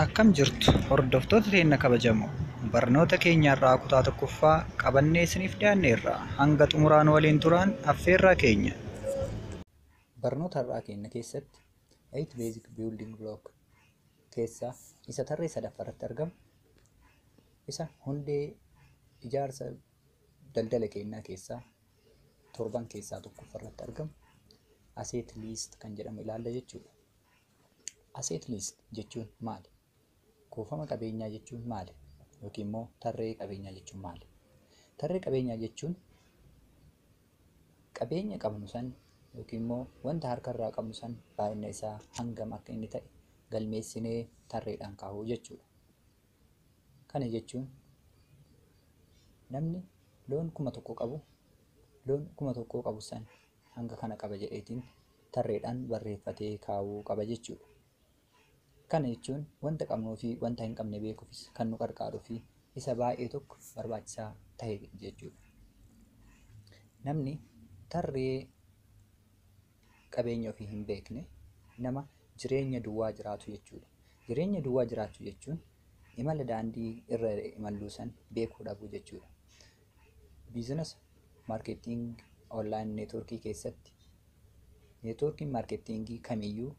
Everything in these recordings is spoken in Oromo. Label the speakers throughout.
Speaker 1: Akkam jirtu hordoftoota keenya kabajamoo barnoota keenya irraa kutaa tokkoffaa qabannee isiniif dhiyaanneerra hanga xumuraan waliin turaan affeerraa keenya. Barnoota har'aa keenya keessatti 8 basic building block keessaa isa tarree sadaffaa irratti argamu isa hundee ijaarsa daldala keenyaa keessaa torban keessaa tokkoffaa irratti argamu aseet liist kan jedhamu ilaalla jechuudha. Aseet liist jechuun maali? Kuufama qabeenyaa jechuun maali? Yookiin immoo tarree qabeenyaa jechuun maali? Tarree qabeenyaa jechuun Qabeenya qabnu san yookiin immoo wanta harka irraa qabnu san baay'ina isaa hangam akka inni ta'e galmeessinee tarreedhaan kaa'uu jechuudha. Kana jechuun namni loon kuma tokko qabu loon kuma tokkoo qabu san hanga kana qaba jedheetiin tarreedhaan barreeffatee kaa'uu qaba jechuudha. Kana jechuun wanta qabnuu fi wanta hin qabne beekuufis kan nu qarqaaruu fi isa baay'ee tokko barbaachisaa ta'e jechuudha. Namni tarree qabeenya ofii hin beekne nama jireenya duwwaa jiraatu jechuudha. Jireenya duwwaa jiraachuu jechuun imala daandii irra imalluu san beekuu dhabuu jechuudha. Biizinasa Marketing online networkii keessatti networkiin marketingii kamiyyuu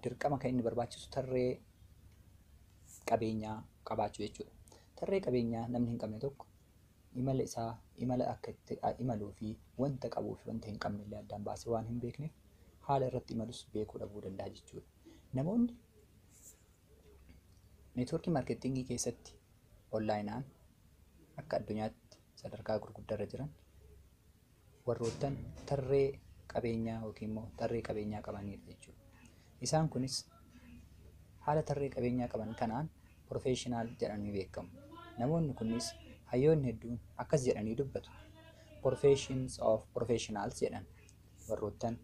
Speaker 1: dirqama kan inni barbaachisu tarree qabeenyaa qabaachuu jechuudha. Tarree qabeenyaa namni hin qabne tokko imala isaa imala akka itti imaluu fi wanta qabuu fi wanta hin qabne illee addaan baasee waan hin beekneef haala irratti imalus beekuu dhabuu danda'a jechuudha. Namoonni networkii marketingii keessatti onlaayinaan akka addunyaatti sadarkaa gurguddaarra jiran warroottan tarree qabeenyaa yookiin immoo tarree qabeenyaa qabanidha jechuudha. Isaan kunis haala tarree qabeenyaa qaban kanaan professional jedhamanii beekamu. Namoonni kunis hayyoonni hedduun akkas jedhanii dubbatu. Professions of professionals jedhan warroottan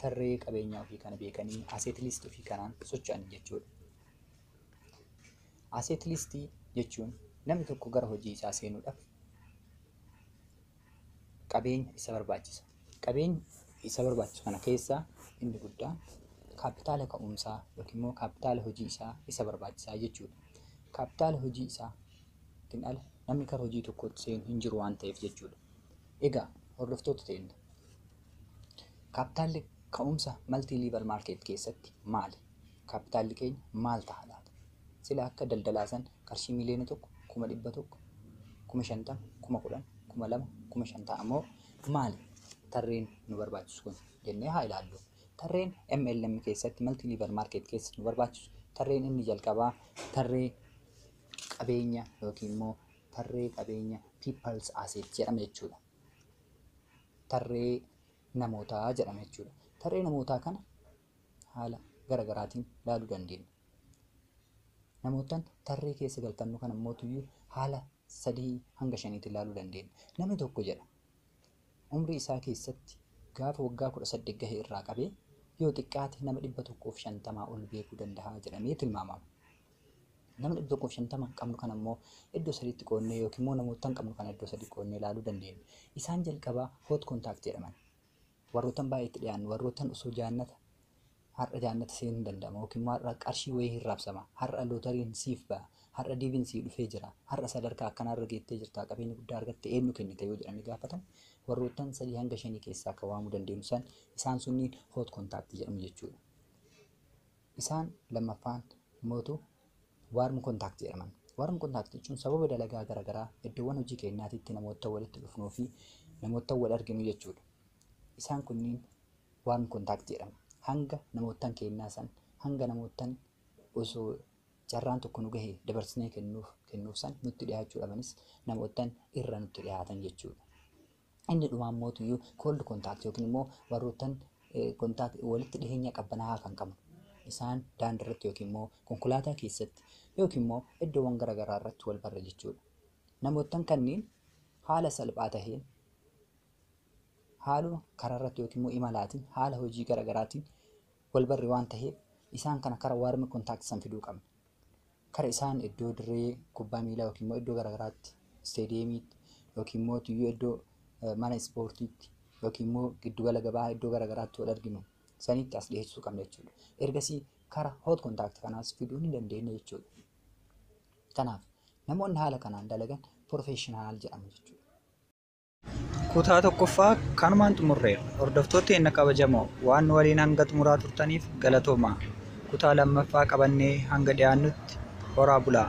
Speaker 1: tarree qabeenyaa ofii kana beekanii asset list ofii kanaan socho'an jechuudha. Asset list jechuun namni tokko gara hojii isaa seenuudhaaf qabeenya isa barbaachisa. Qabeenya isa barbaachisu kana keessaa inni guddaan kaappitaala ka'umsaa yookiin immoo kaappitaala hojii isaa isa barbaachisaa jechuudha. Kaappitaala hojii isaatiin ala namni gara hojii tokkootti seenu hin jiru waan ta'eef jechuudha. Egaa hordoftoota teenya kaappitaalli ka'umsa maltii liivar maarkeet keessatti maali? kaappitaalli keenya maal ta'a laata? Sila akka daldalaa san qarshii miliyoona tokko, kuma dhibba tokko, kuma shantama, kuma kudhan, kuma lama, kuma shan ta'a moo maali? Tarreen nu barbaachisu kun jennee haa ilaallu. Tarreen MLM keessatti multi level market keessa nu barbaachisu tarreen inni jalqabaa tarree qabeenya yookiin immoo tarree qabeenya people's asset jedhama jechuudha. Tarree namootaa jedhama jechuudha. Tarree namootaa kana haala gara garaatiin ilaaluu dandeenya. Namoottan tarree keessa galfannu kana immoo tuyyuu haala sadii hanga shaniitiin ilaaluu dandeenya. Namni tokko jedha umrii isaa keessatti gaafa waggaa kudha saddeet gahe irraa qabee yoo xiqqaate nama dhibba tokkoof shantamaa ol beekuu danda'a jedhamee tilmaamama. Nama dhibba tokkoof shantama qabnu kana immoo iddoo sadiitti qoodnee yookiin immoo namoottan qabnu kana iddoo sadii qoodnee ilaaluu dandeenya. Isaan jalqabaa hot contact jedhaman. Warroottan baay'ee itti dhiyaannu, warroottan osoo jaannata har'a jaannata seenuu hin danda'ama yookiin immoo har'a qarshii wayii hin raabsama, har'a lootariin siif ba'a, har'a diiviin sii dhufee jira, har'a sadarkaa akkanaa irra geettee jirta, qabeenya guddaa argatte eenyu kennite yoo jedhanii gaafatan warroottan sadii hanga shanii keessaa kan waamuu dandeenyu san isaan sunniin hoot kontaaktii jedhamu jechuudha. Isaan lammaffaan mootu Warm contact jedhaman. Warm contact jechuun sababa dalagaa garaagaraa iddoowwan hojii keenyaatitti namoota walitti dhufnuu fi namoota wal arginu jechuudha. Isaan kunniin warm contact jedhamu. Hanga namoottan keenyaa san hanga namoottan osoo carraan tokko nu gahe dabarsinee kennuuf kennuuf san nutti dhiyaachuu dhabanis namoottan irra nutti dhiyaatan jechuudha. Inni dhumaa immoo tuyyuu cold contact yookiin immoo warroottan contact walitti dhiheenya qabbanaa'aa kan qaban isaan daandii irratti yookiin immoo konkolaataa keessatti yookiin immoo iddoowwan garaagaraa irratti wal barra jechuudha. Namoottan kanneen haala salphaa taheen haaluma karaa irratti yookiin immoo imalaatiin haala hojii garaagaraatiin wal barre waan taheef isaan kana kara warmi contact san fiduu qabna. kara isaan iddoo dirree kubbaa miilaa yookiin immoo iddoo garaagaraatti isteediyeemiitti yookiin immoo tuyyuu iddoo eh, mana ispoortiitti yookiin immoo giddugala gabaa iddoo garaagaraatti wal arginu sanitti as dhiyeessuu qabna jechuudha. Ergasii kara hot contact kanaas fiduu ni dandeenya jechuudha. Kanaaf namoonni haala kanaan dalagan professional jedhamu jechuudha. Kutaa tokkoffaa kanumaan xumurreera. Hordoftoota keenya kabajamoo waan nu waliin hanga xumuraa turtaniif galatoomaa. Kutaa lammaffaa qabannee hanga dhiyaannutti horaa bulaa.